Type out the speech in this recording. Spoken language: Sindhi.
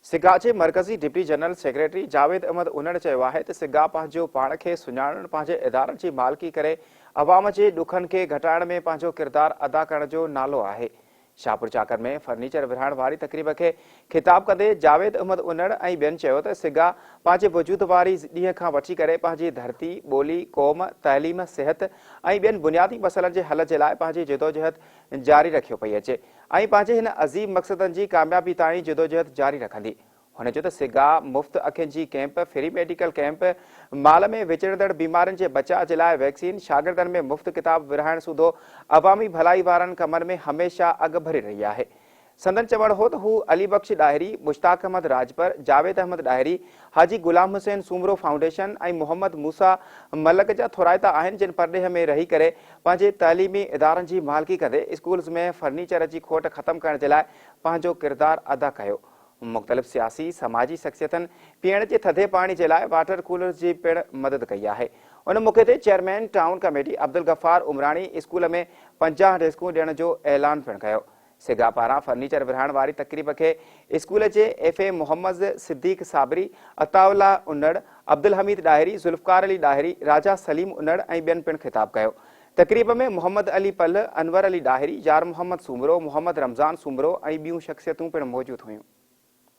سگا جي مرڪزي deputy general secretary Javed Ahmed انڙ چيو آهي ته سگا پنهنجو پاڻ کي سڃاڻڻ پنهنجي ادارن جي مالڪي ڪري عوام جي ڏکن کي گهٽائڻ ۾ پنهنجو ڪردار ادا ڪرڻ جو نالو آهي شاهپور چاڪر ۾ فرنيچر ورهائڻ واري تقريب کي خطاب ڪندي جاويد احمد انڙ ۽ ٻين چيو ته سگا پنهنجي وجود واري ڏينهن کان وٺي ڪري پنهنجي ڌرتي ٻولي قوم تعليم صحت ۽ ٻين بنيادي مسئلن جي حل جي لاء پنهنجي جدوجهد جاري رکيو پئي اچي ۽ پنهنجي هن عظيم مقصدن جي ڪاميابي تائين جدوجهد جاري رکندي. هن چيو ته سگا، مفت اکين جي ڪيمپ، فري ميڊيڪل ڪيمپ، مال ۾ وچڙندڙ بيمارين جي بچاء جي لاء ويڪسين، شاگردن ۾ مفت ڪتاب ورهائڻ سوڌو عوامي ڀلائي وارن ڪمن ۾ هميشه اڳڀري رهي آهي. سندن چوڻ هو ته هو علي بخش ڏاهري، مشتاق احمد راڄپر، جاويد احمد ڏاهري، حاجي غلام حسين سومرو فائونڊيشن ۽ محمد موسيٰ ملڪ جا ٿورائتا آهن جن پرڏيهه ۾ رهي ڪري پنهنجي تعليمي ادارن جي مالڪي ڪندي اسڪولز ۾ فرنيچر جي کوٽ ختم ڪرڻ جي لاء پنهنجو ڪردار ادا ڪيو. مختلف سياسي سماجي شخصيتن پيئڻ جي ٿڌي پاڻي جي لاء واٽر ڪولرز جي پڻ مدد ڪئي آهي. ان موقعي تي chairman town committee Abdulghaffar Umrani school ۾ پنجاهه ڊيسڪون ڏيڻ جو اعلان پڻ ڪيو. سگا پاران فرنيچر ورهائڻ واري تقريب کي اسڪول جي F A Muhammad Siddique Sabri, Ataullah انڙ، عبدالحميد ڏاهري، ذوالفقار علي ڏاهري، راجا سليم انڙ ۽ ٻين پڻ خطاب ڪيو. تقريب ۾ محمد علي پلهه، انور علي ڏاهري، يارمحمد سومرو، محمد رمضان سومرو ۽ ٻيون شخصيتون پڻ موجود هيون.